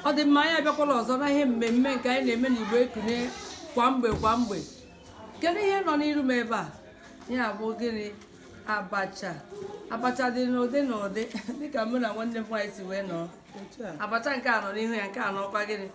ọ dị mma anyị abịakwala ọzọ na ihe mmemme nke anyị na-eme n'igbo ekunie kwa mgbe kwa mgbe kedu ihe nọ n'iru m ebe a ya bụ gịnị abacha abacha dị n'ụdị n'ụdị dịka mụ na nwanne m nwaanyị si wee nọ abacha nke a nọ n'ihu ya nke a nọkwa gịnị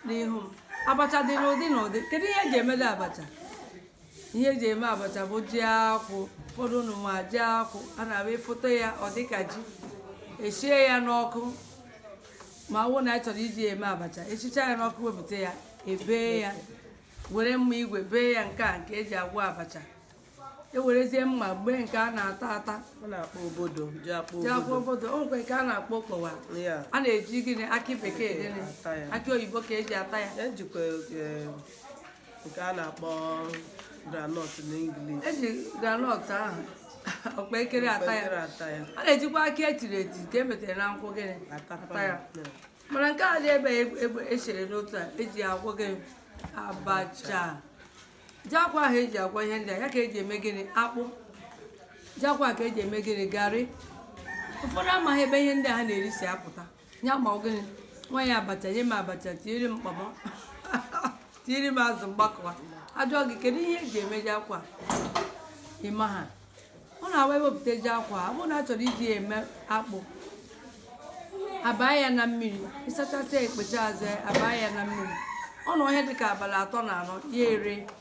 n'ihu m abacha dị n'ụdị n'ụdị kedu ihe eji emede abacha ihe eji eme abacha bụ ji akwụ ụfọdụ unu ma ji akwụ a na-abụ efote ya ọ dịka ji esie ya n'ọkụ ma ọ bụrụ na anyị chọrọ iji ya eme abacha esicha ya n'ọkụ wepụta ya ebee ya were mma igwe bee ya nke a nke eji agwọ abacha ewerezie mma gbee nke a na-ata ata ji akpụ obodo o nwekwa nke a na-akpọ okpowa a na-eji gịnị akị bekee gịnị akị oyibo ka eji ata ya ejikwa eh, nke a na-akpọ granọt na English eji granọt ahụ ọkpa ekere ata ya a na-ejikwa akị etiri eti nke emetere na nkwụ gịnị ata ya mana nke a dị ebe echere n'otu a eji agwọ gịnị abacha ji akwụ ahụ eji agwọ ihe ndị a ya ka eji eme gịnị akpụ ji akwụ ahụ ka eji eme gịnị garị ụfọdụ amaghị ebe ihe ndị a ha na-eri si apụta ya ma gịnị nwaanyị abacha nye m abacha tinyere m kpọmọ tinyere m azụ mgbakọwa ajụọ gị kedu ihe eji eme ji akwụ ịmaha ọ na-awụ ewepụta ji akwụ ọ bụrụ na a chọrọ iji eme akpụ abaa ya na mmiri ịsachasịa ekpecha azụ abaa ya na mmiri ọ nọọ ihe dịka abalị atọ na anọ ya ere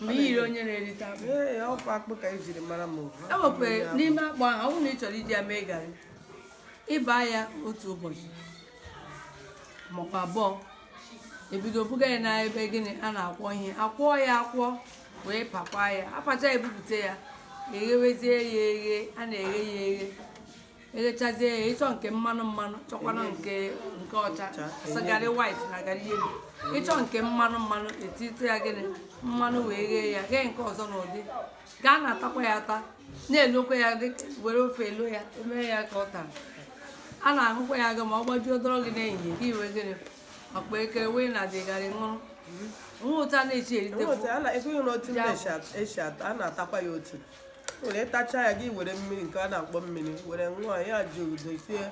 mgbe i yiri onye na-erite akpụ ee ọkwa akpụ ka e jiri mara m e nwekwara n'ime akpụ ahụ ọ bụrụ na ị chọrọ iji ya mee garị ịbaa ya otu ụbọchị maọbụ abụọ ebido buga ya na ebe gịnị a na-akwọ ihe akwọọ ya akwọ wee pakwa ya apacha ebupụta ya eghewezie ya eghe a na-eghe ya eghe eghechazie ya ịchọ nke mmanụ mmanụ chọkwana nke nke ọcha garị white na garị yelo ịchọ nke mmanụ mmanụ etite ya gịnị mmanụ wee ghee ya ghee nke ọzọ n'ụdị ga a na-atakwa ya ata na-elokwa ya were ofe elo ya emee ya ka ụtara a na-aṅụkwa ya aṅụ ma ọ gbajuo dọrọ gị n'ehihie gị were gịnị ọkpa ekere wee na dị garị ṅụrụ nwa ụta na-echi erite a na-atakwa ya otu were ịtacha ya gị were mmiri nke a na-akpọ mmiri were nwayọ jụrụ dozie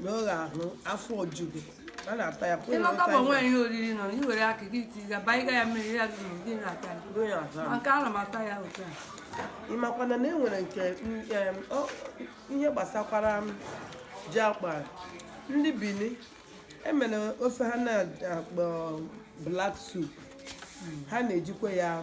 n'oge ahụ afọ eju gị a na-ata ya pụrụ ịlọta bụ nwaanyị ihe oriri nọ na iwere aka gị tiga baiga ya mmiri ya gị gị na-ata ya maka ana m ata ya otu a ị makwana na e nwere nke ihe gbasakwara ji akpụ ndị bini emere ofe ha na-akpọ black soup ha na-ejikwa ya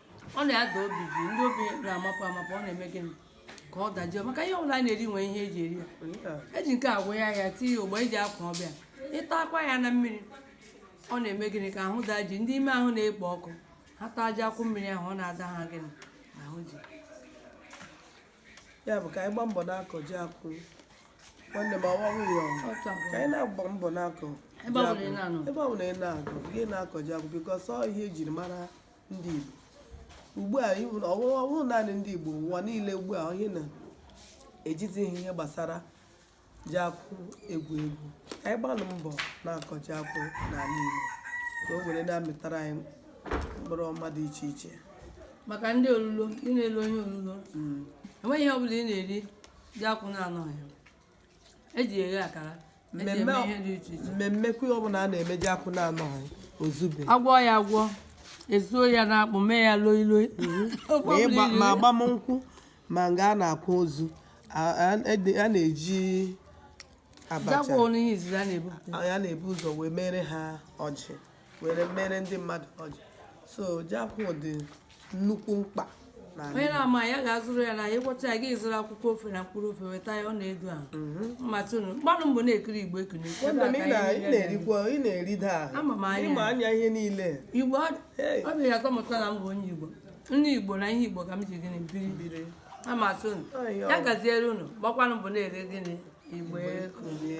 ọ na-ada obi ji ndị obi na-amapụ amapụ ọ na-eme gịnị ka ọ dajụọ maka ihe ọbụla a na-eri nwee ihe eji eri ya eji nke agwọ ya tinye ogbe eji akwa ọbịa ị takwa ya na mmiri ọ na-eme gịnị ka ahụ daa ji ndị ime ahụ na-ekpo ọkụ ha taa ji akwụ mmiri ahụ ọ na-ada ha gịnị ahụ ji ya bụ ka anyị gbaa mbọ na-akọ ji akwụ nwanne m ọwa nwunye ọnwụ ka anyị na-agba mbọ na-akọ ebe ọ bụla ị na-anọ ebe ọ bụla ị na-aga gị na-akọ ji akwụ because ọ ihe ejiri mara ndị Igbo ugbu a ọ wụghị naanị ndị Igbo ụwa niile ugbu a ihe na-ejizighị ihe gbasara ji akwụ egwu egwu ka anyị gbanụ mbọ na-akọ ji akwụ n'ala Igbo ka o were na-amịtara anyị mkpụrụ ọma dị iche iche maka ndị olulo ị na-elo ihe olulo enweghị ihe ọ bụla ị na-eri ji akwụ na-anọghị eji eghe akara eji eme Mmemme- ihe dị iche iche mmemme nke ọbụla a na-eme ji akwụ na-anọghị ozube agwọ ya agwọ ezuo ya n'akpụ mee ya loi loi Ofe ma ịgba- ọbụla iri. ma agbamnkwụ ma nga a na-akwa ozu a- a ede- a na-eji abacha ji akwụ n'ihe izizi a na-ebupụta a na-ebu ụzọ wee mere ha ọjị were mere ndị mmadụ ọjị so ji akwụ dị nnukwu mkpa n'ala onye Igbo. na-ama ya ga-azụrụ ya na ya ịgwọcha ya gị zụrụ akwụkwọ ofe na mkpụrụ ofe weta ya ọ na-edo ahụ mmatụ unu gbanụ mbọ na-ekiri Igbo Ekunie Ebe Nwanne a m, ka ị na- anyị ị na-eri ya. na-erikwa ị na-erida ahụ Ama m anya. ịma anya ihe niile igbo ọ Hey. ọ dị ya atọ m ụtọ na m bụ onye igbo nne igbo na ihe igbo ka m ji gịnị biri biri amatụ unu Ayo. ya gaziere unu gbakwanụ mbọ na-ele gịnị Igbo Ekunie